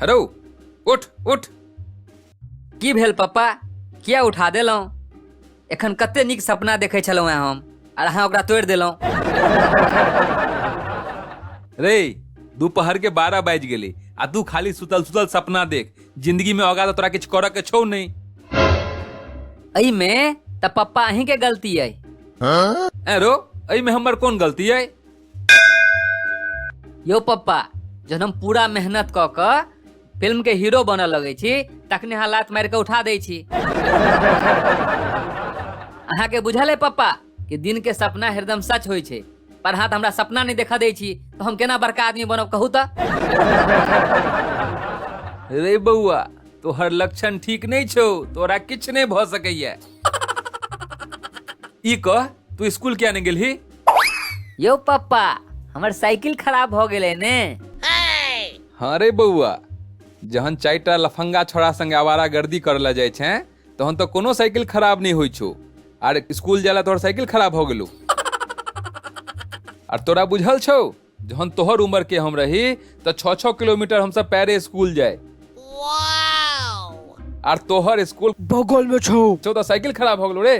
hello उठ उठ की भेल पप्पा किया उठा देलहुँ एखन कते नीक सपना देखै छलहुँ हेँ हम आर अहाँ ओकरा तोड़ि देलहुँ रे दुपहर के बारह बाजि गेली आ तू खाली सुतल सुतल सपना देख जिंदगी में होगा तो तोरा कुछ करे के छौ नहीं अई में त पप्पा अहीं के गलती है ए रो अई में हमर कौन गलती है यो पप्पा जहन हम पूरा मेहनत क क फिल्म के हीरो बनऽ लगै छी तखने अहाँ लात मारि कऽ उठा दै छी अहाँके बुझल है पप्पा कि दिन के सपना हरदम सच होइ छै पर हाँ तऽ हमरा सपना नहि देखऽ दै छी तऽ हम केना बड़का आदमी बनब कहू तऽ रे बौआ तोहर लक्षण ठीक नहीं छो तोरा किछ नहीं भ सकैया ई कह तू स्कूल किया नहीं गेलही यौ पप्पा हमर साइकिल खराब भऽ गेलै ने हाँ रे बौआ जहन चारिटा लफंगा छोड़ा संगे आवारा गर्दी करला जाइ छै तहन तो कोनो साइकिल खराब नहीं होई छो आर स्कूल जाला तोहर साइकिल खराब हो गेलो आर तोरा बुझल छो जहन तोहर उम्र के हम रही तो छः छः किलोमीटर हम सब पैरे स्कूल जाए आर तोहर स्कूल बगल में छो छो तो साइकिल खराब हो गेलो रे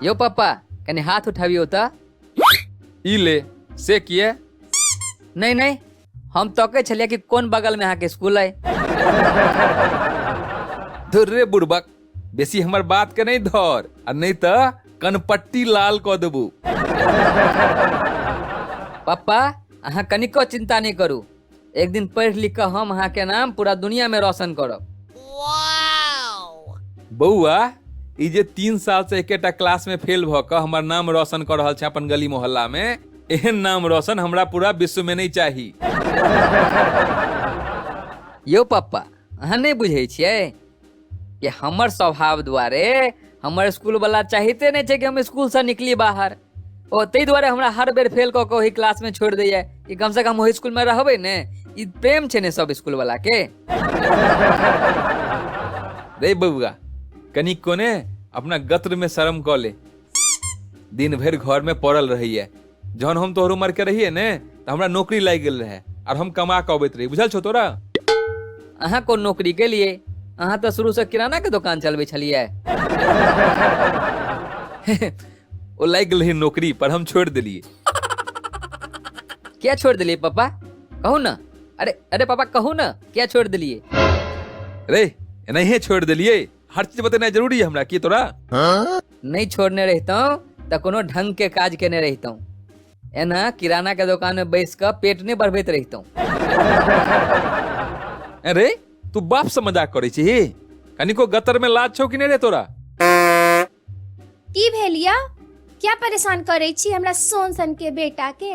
यो पापा कनी हाथ उठाबियो त ई ले से किए नहीं नहीं हम तकै छलियै कि कोन बगलमे अहाँके स्कूल अइ धुर रे बुड़बक बेसी हमर बात के नहीं धर आ नहीं त कनपट्टी लाल क देबू पप्पा अहाँ कनिको चिंता नहीं करू एक दिन पढ़ि लिख कऽ हम अहाँके नाम पूरा दुनिया में रोशन करब बौआ ई जे तीन साल से एकेटा क्लास में फेल भ क हमर नाम रोशन कर रहल छै अपन गली मोहल्ला में एहन नाम रोशन हमरा पूरा विश्व में नहीं चाही यौ पप्पा अहाँ नहि बुझै छियै कि हमर स्वभाव दुआरे हमर स्कूल वाला चाहिते नहि छै कि हम स्कूल से निकली बाहर ओ ताहि दुआरे हमरा हर बेर फेल कऽ कऽ ओहि क्लास में छोड़ि दैया कि कम से कम ओहि स्कूल में रहबै ने ई प्रेम छै ने सब स्कूल वाला के रे बबुआ कनी कोने अपना गत्र में शर्म कऽ ले दिन भरि घर में पड़ल रहिए जहन हम तोहर उम्र के रहिए ने तो हमरा नौकरी लाग गेल रहे और हम कमा के अबैत रही बुझल छो तोरा अहाँ कोन नौकरी के लिए अहाँ तऽ शुरू से किराना के दुकान चलबै छलियै ओ लाग गेल रही नौकरी पर हम छोड़ दिलिए क्या छोड़ दिलिए पापा कहू ना अरे अरे पापा कहू ना क्या छोड़ दिलिए रे एनाहिए छोड़ दिलिए हर चीज बतेनाइ जरूरी है हमरा की तोरा नहीं छोड़ने रहता हूँ तो कोनो ढंग के काज केने रहता हूँ एना किराना के दुकान में बैस कर पेट नहीं बढ़बैत रहता हूँ अरे तू बाप से मजाक करे छी कनिको गतर में लाज छौ कि नहीं रे तोरा की भेलिया क्या परेशान करे छी हमरा सोन सन के बेटा के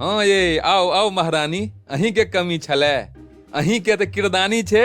हाँ ये आओ आओ महारानी अहीं के कमी छले अहीं के तो किरदानी छे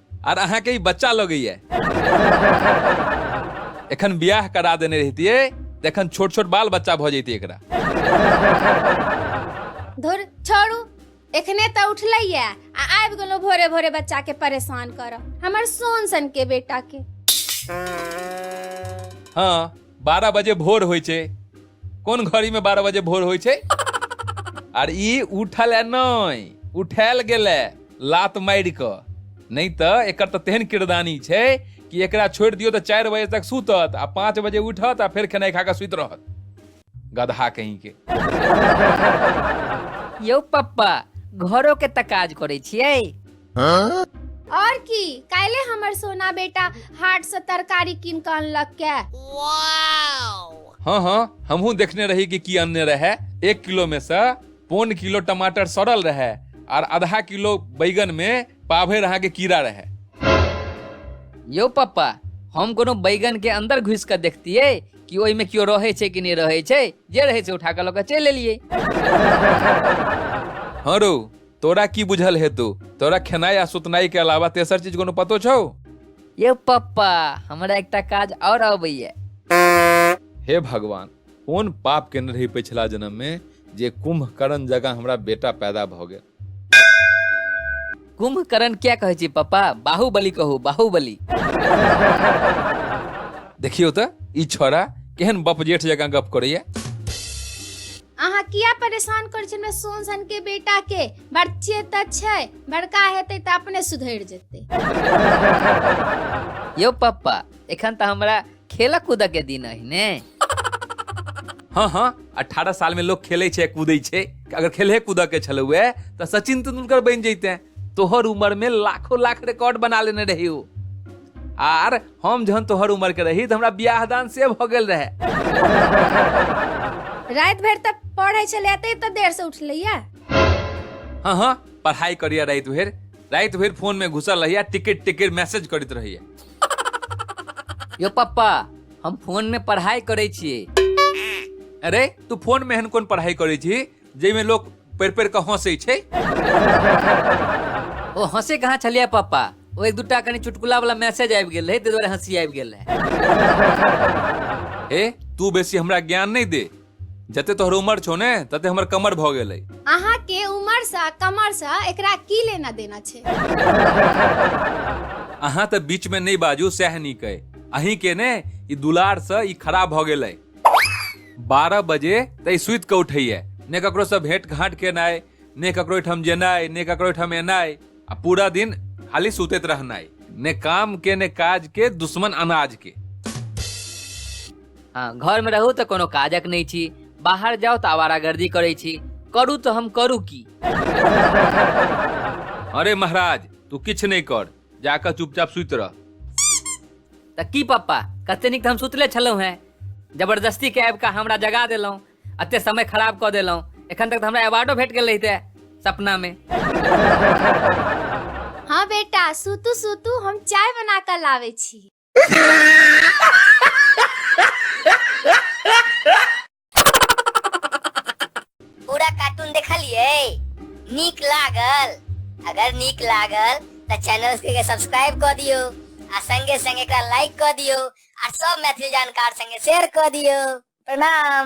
आर अहाँके ई बच्चा लगैया एखन बियाह करा देने रहितियै तऽ एखन छोट छोट बाल बच्चा भऽ जैतियै एकरा धुर छोड़ू एखने तऽ उठलैए आ आबि गेलहुँ भोरे भोरे बच्चाके परेशान करऽ हमर सोन सनके बेटाके हँ बारह बजे भोर होइ छै कोन घड़ी में बारह बजे भोर होइ छै आर ई उठल है नहि उठायल गेल है लात मारि कऽ नहि तऽ एकर तऽ तेहन किरदानी छै कि एकरा छोड़ि दियौ तऽ चारि बजे तक सुतत आ पाँच बजे उठत आ फेर खेनाइ खा कऽ सुति रहत गधा कहीं के यौ पप्पा घरो के तऽ काज करै छियै और की काल्हे हमर सोना बेटा हाट से तरकारी कीन के अनलक के हाँ हाँ हमहू देखने रही कि की अन्य रहे एक किलो में से पौन किलो टमाटर सड़ल रहे और आधा किलो बैगन में पाभे रहा के कीड़ा रहे यो पप्पा हम कोनो बैगन के अंदर घुस के देखतिए कि ओहि में क्यो रहे छै कि नहीं रहे छै जे रहे छै उठा के लऽ के चलि एलिए हाँ रो तोरा की बुझल हेतु तोरा खेनाई आ सुतनाई के अलावा तेसर चीज कोनो पतो छौ यौ पप्पा हमरा एकटा काज और अबैया हे भगवान कोन पाप केने रही पिछला जन्म में जे कुंभकर्ण जगह हमरा बेटा पैदा भऽ गेल कुंभकर्ण क्या कहै छी पप्पा बाहुबली कहू बाहुबली देखियौ तऽ ई छोरा केहन बपजेठ जकाँ गप करैया अहाँ किया परेशान करै छी हमरा सोन सन के बेटा के बच्चे तऽ छै बड़का हेतै तऽ अपने सुधरि जेतै यौ पप्पा एखन तऽ हमरा खेलऽ कूदऽ के दिन अहि ने हाँ हाँ अठारह साल में लोग खेले छे कूदे छे अगर खेले कूदे के छल हुए तो सचिन तेंदुलकर बन जैते तोहर उम्र में लाखों लाख रिकॉर्ड बना लेने रही हो आर हम जहन तोहर उम्र के रही तो हमरा ब्याह दान से भ गेल रहे रात भर तक पढ़े चले ते इतना देर से उठ लिया हाँ हाँ पढ़ाई करिया रात भर रात भर फोन में घुसल रहिया टिकट टिकट मैसेज करत रहिया यो पप्पा हम फोन में पढ़ाई करे छिए अरे तू फोन में एहन कोन पढ़ाई करे छी जाहिमे लोक पढ़ि पढ़ि कऽ हँसै छै ओ हंसे कहाँ छलियै पापा ओ एक दूटा कनी चुटकुला वाला मैसेज आबि गेल रहै ताहि दुआरे हंसी आबि गेल रहै ए तू बेसी हमरा ज्ञान नहि दे जते तोहर उमर छौ ने तते हमर कमर भऽ गेलै अहाँ के उमर से कमर से एकरा की लेना देना छै अहाँ तऽ बीच में नहीं बाजू सएह नीक अइ अहीं के ने ई दुलार से ई खराब भऽ गेलै बारह बजे तई सुत के उठैया ने ककरो से भेंट घाट केनाइ ने ककरो ओहिठाम जेनाइ ने ककरो ओहिठाम एनाइ आ पूरा दिन खाली सुतैत रहनाइ ने काम के ने काज के दुश्मन अनाज के हाँ घर में रहू तो कोनो काजक नहीं छी बाहर जाओ तो आवारागर्दी करे छी करू तो हम करू की अरे महाराज तू किछ नहीं कर जाकऽ चुपचाप सुति रह तऽ की पप्पा कते नीक तऽ हम सुतले छलहुँ हेँ जबरदस्ती के आबि कऽ हमरा जगा देलहुँ एते समय खराब कऽ देलहुँ एखन तक तऽ हमरा अवार्डो भेट गेल रहिते सपनामे हाँ बेटा सुतू सुतू हम चाय बना कऽ लाबै छी पूरा कार्टून देखलिए नीक लागल अगर नीक लागल तो चैनल के सब्सक्राइब कर दियो आ संगे संगे का लाइक कर दियो आ सब मैथिली जानकार संगे शेयर कर दियो प्रणाम